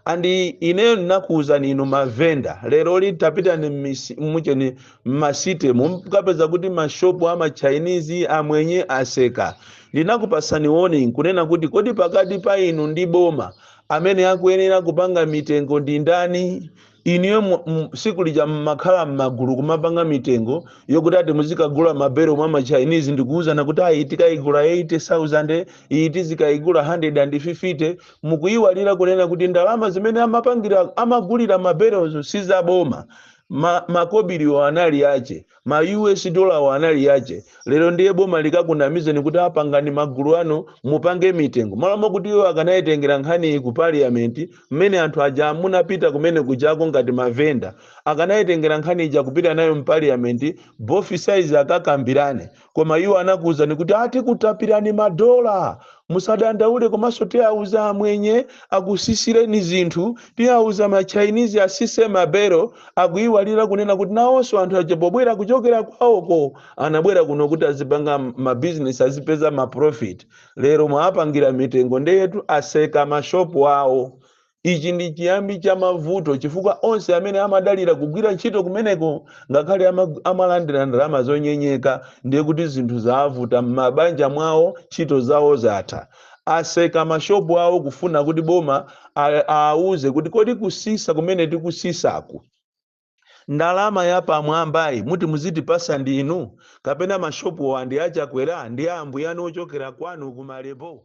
and ineyo ndinakuwuzani inu mavenda leroli tapitani mmisi- mucheni mmasite mukapeza kuti mashopu ama chinese amwenye aseka ndinakupasani warning kunena kuti kodi pakati pa inu ndi boma amene akuyenera kupanga mitengo ndi ndani inuyo mu- mu- tsiku lija mmakhala mmagulu kumapanga mitengo yokuti ati muzikagula mabelo mwa machinese ndikuwuzana kuti ayi tikayigula 80000 iyi tizikayigula 150 mukuyiwalira kunena kuti ndalama zimene amapangira amagulira mabelo si za boma ma makobiriwo anali ache ma us dollarwo anali ache lero ndiye boma likakunamizeni kuti a pangani magulu anu mupange mitengo malo mokuti iwo akanayitengera nkhaniyi ku parliament mmene anthu aja munapita kumene kujako ngati mavenda akanayitengera nkhani ija kupita nayo mu parliament both sides akakambirane koma iwo anakuwuzani kuti a tikutapirani madola musadandaule komanso tiwawuza amwenye akusisireni zinthu tiwawuza machinese asise mabelo akuyiwalira kunena kuti nawonso anthu aja pobwera kuchokera kwawoko anabwera kuno kuti azipanga mabizinesi azipeza maprofit lero mwawapangira mitengo ndeyetu aseka mashopu awo Ichi ndi chiyambi cha mavuto chifukwa onse amene amadalira kugwira ntchito kumeneko ngakhale amag- amalandira ndalama zonyenyeka ndiye kuti zinthu zaavuta m'mabanja mwawo ntchito zawo zatha aseka mashopu awo kufuna kuti boma a- aawuze kuti kodi kusisa kumene tikusisaku ndalama yapamwambayi muti muzitipasa ndinu kapena mashopuwa ndi achakwera ndi ambuyanu ochokera kwanu kumalembo